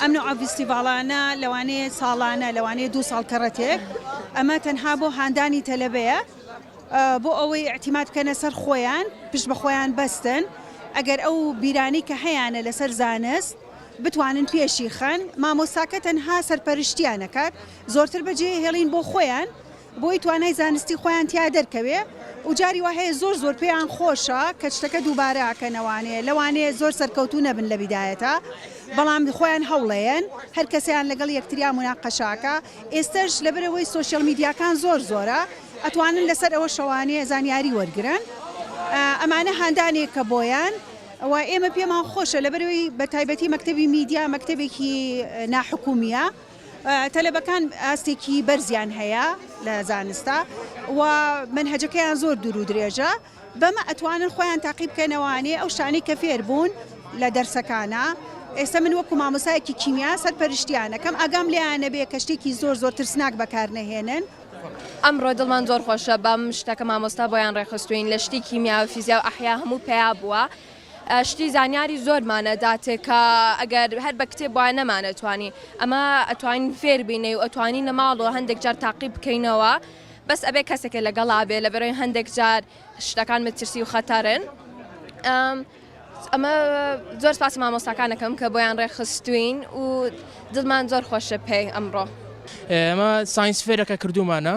ئەم نەوعە ڤیستیڤاڵانە لەوانەیە ساڵانە، لەوانەیە دوو ساڵ کەڕەتێک، ئەمە تەنها بۆ هاندانی تەلەبەیە بۆ ئەوەی ئیعتیماد بکەنە سەر خۆیان، پشت بە خۆیان بەستن، ئەگەر ئەو بیرانەی کە هەیانە لەسەر زانست بتوانن پێشی خەن، مامۆستاکە تەنها سەرپەرشتیان ئەکات، زۆرتر بەجێ ئەهێڵین بۆ خۆیان، بۆی توانای زانستی خۆیان تیا دەرکەوێ و جاری وا هەیە زۆر زۆر پێیان خۆشە کە شتەکە دووبارە ئەکەنەوانێ لەوانەیە زۆر سەرکەوتوو نەبن لە بیدایەتا بەڵام خۆیان هەوڵەیەن هەر کەسەیان لەگەڵ یەکتریا مناقەشە ئەکا ئێستەش لەبەر ئەوەی سۆشیال میدیاکان زۆر زۆرە ئەتوانن لەسەر ئەوە شەوانێ زانیاری وەرگرن ئەمانە هاندانێکە بۆیان و ئێمە پێمان خۆشە لەبەر ئەوەی بە تایبەتی مەکتەبی میدیا مەکتەبێکی ناحکومیە. تەلەبەکان ئاستێکی بەرزیان هەیە لە زانستا و مەنهەجەکەیان زۆر دوور و درێژە بەمە ئەتوانن خۆیان تاقی بکەنەوانێ ئەو شتانەی کە فێر بوون لە دەرسەکانا ئێستا من وەکو مامۆسایەکی کیمیا سەرپەرشتیانەکەم ئاگام لێیان نەبێ کە شتێکی زۆر زۆر ترسناک بەکار نەهێنن. ئەمڕۆ دڵمان زۆر خۆشە بەم شتە کە مامۆستا بۆیان ڕێکخستووین لە شتی کیمیا و فیزیا و ئەحیا هەموو پەیا بووە. شتی زانیاری زۆرمانە داتێ کە ئەگەر هەر بە کتێب وایە نەمانەتوانی ئەمە ئەتوانین فێر بینەی و ئەتوانی لە ماڵەوە هەندێک جار تاقی بکەینەوە بەس ئەبێ کەسێکە لەگەڵا بێ لە بەرەوەی هەندێک جار شتەکان مەترسی و خەتەرن ئەمە زۆر سپاسی مامۆستاکانەکەم کە بۆیان ڕێخستوین و دڵمان زۆر خۆشە پێی ئەمڕۆ ئەمە ساینس فێرەکە کردومانە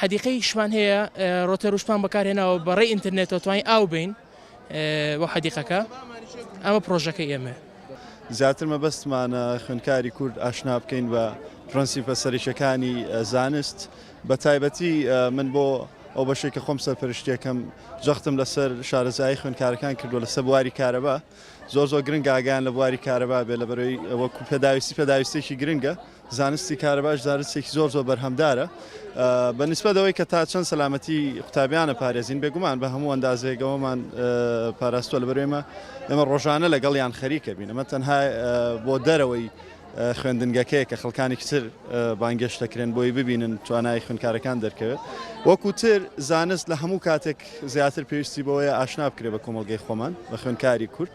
حەدیقەی شمان هەیە ڕۆتێروشمان بەکارهێناوە بە ڕێی ئینترنێتەوە توانین ئاو بین بۆ حەدیقەکە ئەمە پرۆژەکە ئێمە. زیاتر مەبەستمانە خوێندکاری کورد ئاشنا بکەین بە پرەنسیپە سەرەکیەکانی زانست بە تایبەتی من بۆ ئەو بەشێک کە خۆم سەرپەرشتیەکەم جەختم لەسەر شارەزایی خوێندکارەکان کردو لەسەر بواری کارەبا زۆر زۆر گرنگ ئاگیان لە بواری کارەبا بێ لە بەرەوەی ئەوە پێداویستی پێداویستێکی گرنگە. زانستی کارەباش زانستێکی زۆر زۆر بەرهەمدارە بە نسبەت ئەوەی کە تا چەند سەلامەتی قوتابیانە پارێزین بێگومان بە هەموو ئەندازێکەوەمان پاراستوە لە بەرێمە ئێمە ڕۆژانە لەگەڵیان خەریکە بین ئەمە تەنها بۆ دەرەوەی خوێندنگەکەیە کە خەڵکانی کچر بانگێشت دەکرێن بۆی ببینن توانای خوێنکارەکان دەرکەوێت وەکوتر زانست لە هەموو کاتێک زیاتر پێویستی بەوەیە ئاشنا بکرێت بە کۆمەلگەی خۆمان بە خوێنکاری کورد